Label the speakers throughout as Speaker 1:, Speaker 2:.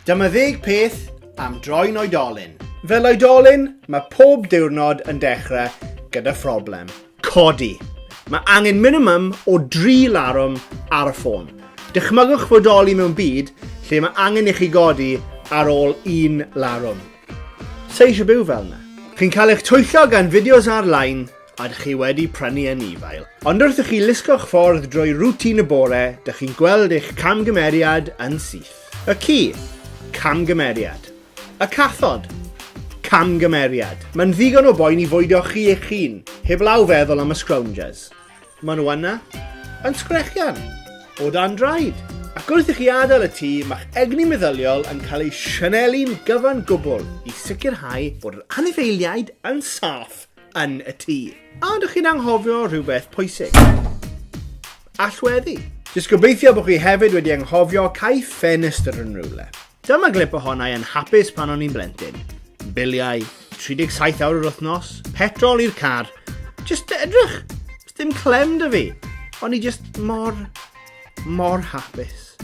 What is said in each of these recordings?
Speaker 1: Dyma ddeg peth am droi'n oedolyn. Fel oedolyn, mae pob diwrnod yn dechrau gyda phroblem. Codi. Mae angen minimum o dri larwm ar y ffôn. Dychmygwch fodoli mewn byd lle mae angen i chi godi ar ôl un larwm. Sa eisiau byw fel yna. Chi'n cael eich twyllo gan fideos ar-lein Ydych chi wedi prynu anifail, ond wrth i chi lusgo'ch ffordd drwy rwtîn y bore, dych chi'n gweld eich camgymeriad yn syth. Y ci? Camgymeriad. Y cathod? Camgymeriad. Mae'n ddigon o boen i fwydo chi eich hun, heblaw feddwl am y scroungers. Maen nhw yna, yn sgrechian, o dan draed. Ac wrth i chi adael y tŷ, mae'ch egni meddyliol yn cael ei sianelu'n gyfan gwbl i sicrhau bod yr anifeiliaid yn saff. yn y tŷ. A ydych chi'n anghofio rhywbeth pwysig? Allweddi. Jyst gobeithio bod chi hefyd wedi anghofio cael ffenestr yn rhywle. Dyma glip ohonau yn hapus pan o'n i'n blentyn. Biliau, 37 awr yr wythnos, petrol i'r car. Just edrych, dim clem dy fi. O'n i just mor, mor hapus.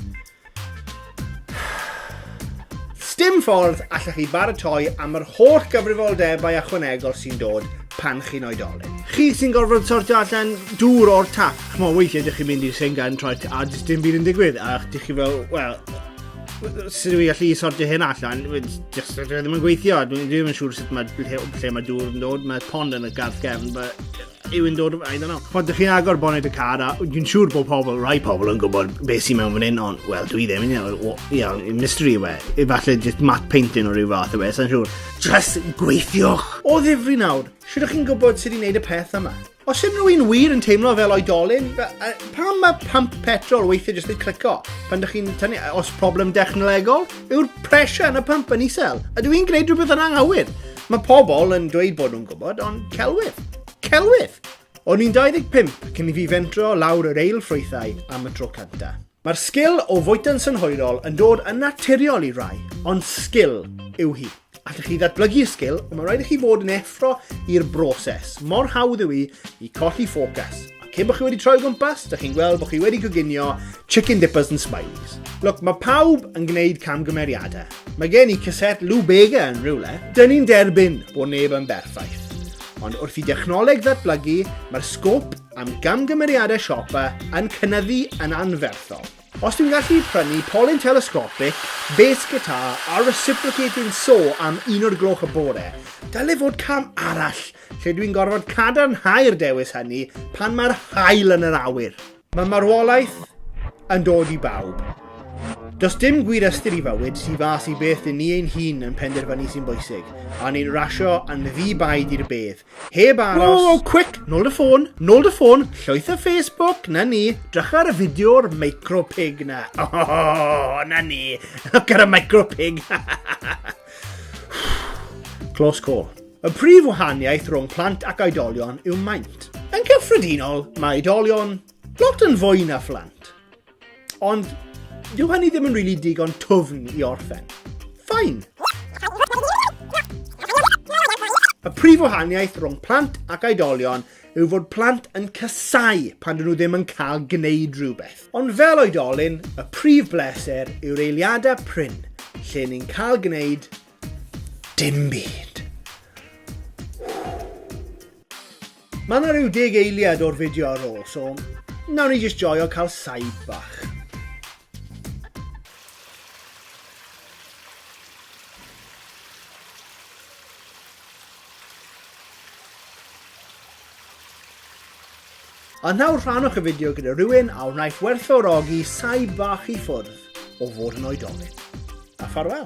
Speaker 1: Sdim ffordd allech chi baratoi am yr holl gyfrifoldebau ychwanegol sy'n dod pan chi'n oedolyn. Chi sy'n gorfod sortio allan dŵr o'r tap. Chmo, weithiau ydych chi'n mynd i'r sengan troed a jyst dim byd yn digwydd. A ydych chi fel, wel, sut dwi gallu sortio hyn allan? Just, dwi ddim yn gweithio. Dwi ddim yn siŵr sut mae, lle, lle mae dŵr yn dod. Mae pond yn y garth gefn, but yw yn dod, I don't know. Pan dych chi'n agor bonnet y car, a dwi'n siŵr bod pobl, rai pobl yn gwybod beth sy'n mewn fan hyn, ond, wel, dwi ddim, you know, you know, mystery yw e. Efallai just matte painting o ryw fath yw e, sa'n siŵr. Just gweithiwch! O ddifri nawr, siwr ych chi'n gwybod sut i'n neud y peth yma? Os yw rhywun wir yn teimlo fel oedolyn, pam mae pump petrol weithiau jyst yn clico? Pan ydych chi'n tynnu, os problem dechnolegol, yw'r pressure yn y pump yn isel? Ydw i'n gwneud rhywbeth yn anghywir? Mae pobl yn dweud bod nhw'n gwybod, ond celwydd. Celwydd! O'n i'n 25 cyn i fi fentro lawr yr eil ffrwythau am y tro cynta. Mae'r sgil o fwyta'n synhwyrol yn dod yn naturiol i rai, ond sgil yw hi. Allwch chi ddatblygu y sgil, ond mae rhaid i chi fod yn effro i'r broses. Mor hawdd yw i i colli ffocws. Cyn bod chi wedi troi gwmpas, da chi'n gweld bod chi wedi goginio chicken dippers and smileys. Look, mae pawb yn gwneud camgymeriadau. Mae gen i cassette Lou Bega yn rhywle. Dyn ni'n derbyn bod neb yn berffaith. Ond wrth i dechnoleg ddatblygu, mae'r sgop am gamgymeriadau siopa yn cynnyddu yn anferthol. Os dwi'n gallu prynu polyn telescopic, bass guitar a reciprocating saw am un o'r gloch y bore, dyle fod cam arall lle dwi'n gorfod cadarnhau'r dewis hynny pan mae'r haul yn yr awyr. Mae marwolaeth yn dod i bawb. Does dim gwir ystyr i fywyd, tu fas i beth dyn ni ein hun yn penderfynu sy'n bwysig, a ni'n rasio yn ddi-baid i'r bedd, Heb aros. Whoa, quick! Nôl dy ffôn, nôl dy ffôn, llwyth y Facebook, na ni. Drych ar y fideo o'r micro pig na. Oh, na ni. Look ar y micro pig. Close call. Y prif wahaniaeth rhwng plant ac oedolion yw maint. Yn cyffredinol, mae oedolion lot yn fwy na phlant. Ond, dyw hynny ddim yn really digon twfn i orffen. Ffain! Y prif wahaniaeth rhwng plant ac oedolion yw fod plant yn casau pan dyn nhw ddim yn cael gwneud rhywbeth. Ond fel oedolyn, y prif bleser yw'r eiliadau prin lle ni'n cael gwneud Dim byd. Mae yna rhyw deg eiliad o'r fideo ar ôl, so nawr ni jyst joio cael saib bach. A nawr rhanwch y fideo gyda rhywun a wnaiff werthfawrogi saib bach i ffwrdd o fod yn oedolyn. A ffarwel!